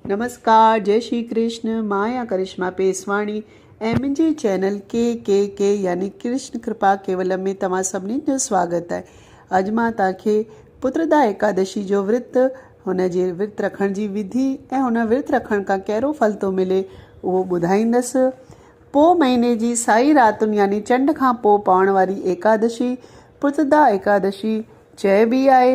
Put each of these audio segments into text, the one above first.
نمسڪار جئي شري ڪرشن مان آهيان ڪرشما پيسواڻي ۽ منهنجي چينل ڪي ڪي ڪي يعني ڪرشن ڪرپا ڪيولم ۾ توهان سڀني جو سواگت آهي اڄ مان توهان کي پتردا ايڪادشي جو ورت هن جي ورت رکڻ جي وڌي ۽ هن ورت رکڻ کان ڪهڙو ڦل ٿو ملي اهو ٻڌائيندس پوء مهيني جي سائي راتن يعني چنڊ کان پوء پوڻ واري ايڪادشي پتردا ايڪادشي چئبي آهي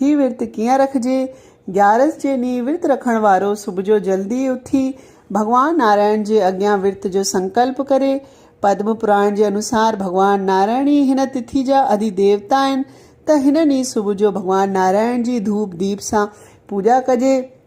هي ورت ڪيئن رکجي؟ گيارس جي ڏينهن ورت رکڻ وارو صبح جو جلدي اٿي ڀڳوان نارائڻ جي اڳيان ورت جو سنڪلپ ڪري. پدم پراڻ جي انوسار ڀڳوان نارائڻ ئي هن تٿي جا اڌي ديوتا آهن ته هن ڏينهن صبح جو ڀڳوان نارائڻ جي ڌوپ ديپ سان پوڄا ڪجي.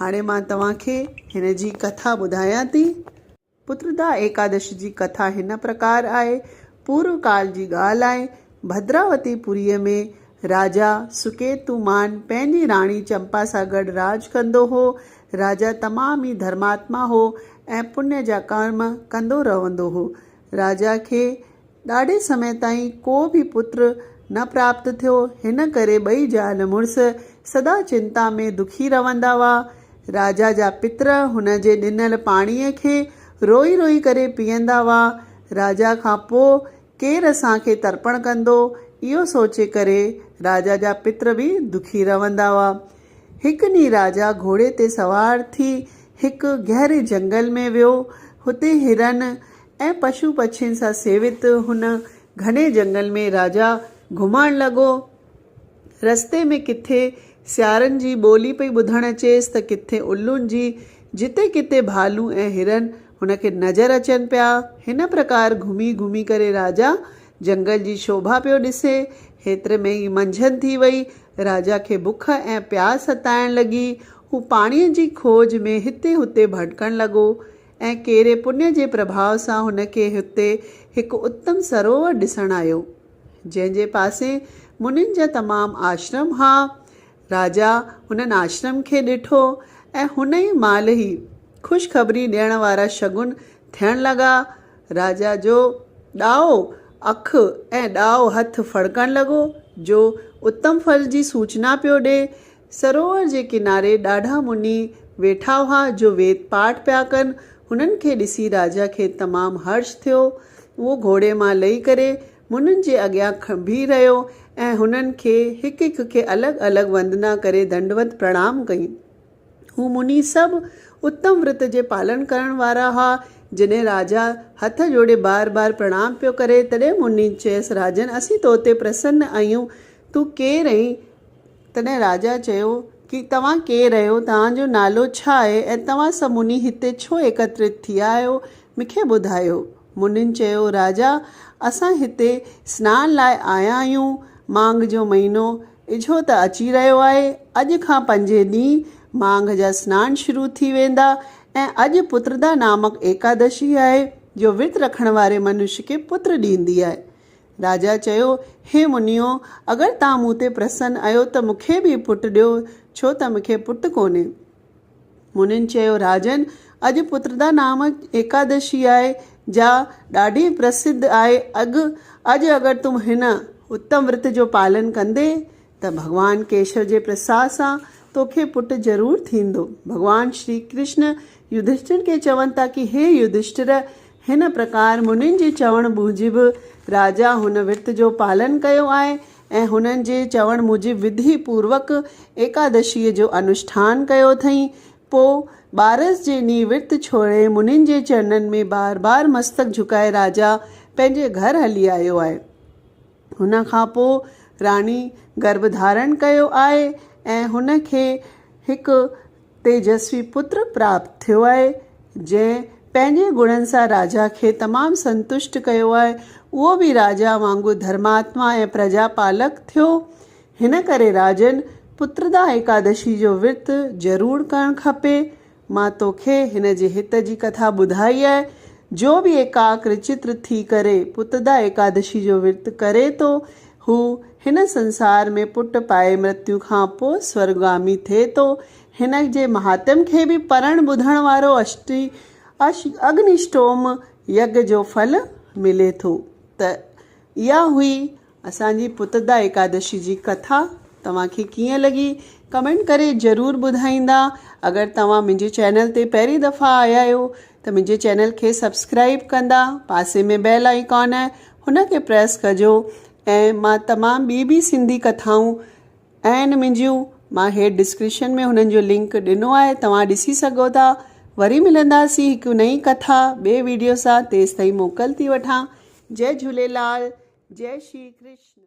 هاڻي مان توهان کي هن جي ڪٿا ٻڌايان ٿي. پتردا ايڪادشي جي ڪٿا هن پرڪار آهي. پورو ڪال جي ڳالهه آهي. ڀدراوتي پوريء ۾ راجا سڪيتومان پنهنجي راڻي چمپا سان گڏ راڄ ڪندو هو. راجا تمام ئي ڌرماتما هو ۽ پڃ جا ڪرم ڪندو رهندو هو. راجا کي ڏاڍي سمي تائين ڪو به پتر نه پراپت ٿيو. هن ڪري ٻئي زال مڙس سدا چنتا ۾ دکي رهندا هئا. راجا جا پتر هن جي ڏنل پاڻيء کي روئي روئي ڪري پيئندا هئا. راجا کان پوء ڪير اسان کي ترپڻ ڪندو، اهو سوچي ڪري راجا جا پتر به دکي رهندا هئا. هڪ ڏينهن راجا گهوڙي تي سوار ٿي هڪ گهري جهنگل ۾ ويو. هتي هرن ۽ پشو پڇين سان سيوت هن گهني جهنگل ۾ راجا گهمڻ لڳو. رستي ۾ ڪٿي سيارن جي ٻولي پئي ٻڌڻ اچيس ته ڪٿي الون جي. جتي ڪٿي ڀالون ۽ هرن هن کي نظر اچن پيا. هن پرڪار گهمي گهمي ڪري راجا جنگل جي شوڀا پيو ڏسي. هيتري ۾ ئي منجهند ٿي وئي. راجا کي بک ۽ پياس ستائڻ لڳي. هو پاڻيء جي کوج ۾ هتي هتي ڀٽڪڻ لڳو ۽ ڪيري پڃ جي پرڀاء سان هن کي هتي هڪ اتم سروور ڏسڻ آيو، جنهن جي پاسي منين جا تمام آشرم ها راجا هنن آشرم کي ڏٺو ۽ هن ئي مهل هي خوشخبري ڏيڻ وارا شگن ٿيڻ لڳا. راجا جو ڏائو اک ۽ ڏائو هٿ ڦڙڪڻ لڳو، جو اتم ڦل جي سوچنا پيو ڏي. سروور جي ڪناري ڏاڍا مني ويٺا هئا، جو ويد پاٺ پيا ڪن. هنن کي ڏسي راجا کي تمام هرش ٿيو. اهو گهوڙي مان لهي ڪري منھن جي اڳيان بيھي رھيو ۽ ھنن کي ھڪ ھڪ کي الڳ الڳ وندنا ڪري دنڊوت پرڻام ڪئي. ھو منھي سڀ اتم ورت جي پالن ڪرڻ وارا ھئا. جڏھن راجا ھٿ جوڙي بار بار پرڻام پيو ڪري تڏھن منھي چيس راجن اسين تو تي پرسن آھيون تون ڪير آھين؟ تڏھن راجا چيو ڪي توھان ڪير آھيو توھان جو نالو ڇا آھي ۽ توھان سڀ منھي ھتي ڇو ايڪترت ٿيا آھيو مونکي ٻڌايو. منھن چيو، راجا! اسان ھتي سنان لاء آيا آھيون. ماگھ جو مھينو اجھو ته اچي رھيو آھي. اڄ کان پنجين ڏينھن ماگھ جا سنان شروع ٿي ويندا ۽ اڄ پتردا نامڪ ايڪادشي آھي، جو ورت رکڻ واري منش کي پتر ڏيندي آھي. راجا چيو، ھي منھنيو! اگر توھان مون تي پرسن اھيو ته مون کي به پٽ ڏيو، ڇو ته مون کي پٽ ڪونھي. منھن چيو، راجن! اڄ پتردا نام ايڪادشي آھي، جا ڏاڍي پرسڌ آھي. اڳ اڄ اگر تون ھن اتم ورت جو پالن ڪندين ته ڀڳوان ڪيشو جي پرساد سان توکي پٽ ضرور ٿيندو. ڀڳوان شري ڪرشن يڌشٽر کي چون ٿا ڪي ھي يڌشٽر! ھن پرڪار منھن جي چوڻ موجب راجا ھن ورت جو پالن ڪيو آھي ۽ هنن جي چوڻ موجب وڌي پوروڪ ايڪادشيء جو انوشٺان ڪيو اٿئين. پوء ٻارس جي ڏينهن ورت ڇوڙي منھن جي چرنن ۾ بار بار مستڪ جھڪائي راجا پنھنجي گھر هلي آيو آهي. ان کان پوء راڻي گرڀ ڌارڻ ڪيو آهي ۽ هن کي هڪ تيجسوي پتر پراپت ٿيو آهي، جنهن پنهنجي گڻن سان راجا کي تمام سنتشٽ ڪيو آهي. اهو به راجا وانگر ڌرماتما ۽ پرجا پالڪ ٿيو. هن ڪري راجن پتردا ايڪادشي جو ورت ضرور ڪرڻ کپي. مان توکي هن جي هت جي ڪٿا ٻڌائي آهي. جو به ايڪاڪر چتر ٿي ڪري پتردا ايڪادشي جو ورت ڪري ٿو، هو هن سنسار ۾ پٽ پائي مرتيو کان پوء سورگامي ٿئي ٿو. هن جي مهاتم کي به پڙهڻ ٻڌڻ وارو اشٽي اش اگنيشٽوم يگ جو ڦل ملي ٿو. ته اها هئي اسان جي پتدا ايڪادشي جي ڪٿا. توهان کي ڪيئن لڳي ڪمينٽ ڪري ضرور ٻڌائيندا. اگر توهان منهنجي چينل تي پهرين دفعا آيا آهيو ته منهنجي چينل کي سبسڪرائيب ڪندا. پاسي ۾ بيل آئيڪان آهي هن کي پريس ڪجو ۽ مان تمام ٻي به سنڌي ڪٿائون اهن منهنجيون مان هيٺ ڊسڪريشن ۾ هنن جو لنڪ ڏنو آهي توهان ڏسي سگهو ٿا وري ملنداسين هڪ نئين ڪٿا ٻي ويڊيو سان تيستائين موڪل ٿي وٺان جئي جهوليلال جئي شري ڪرشن.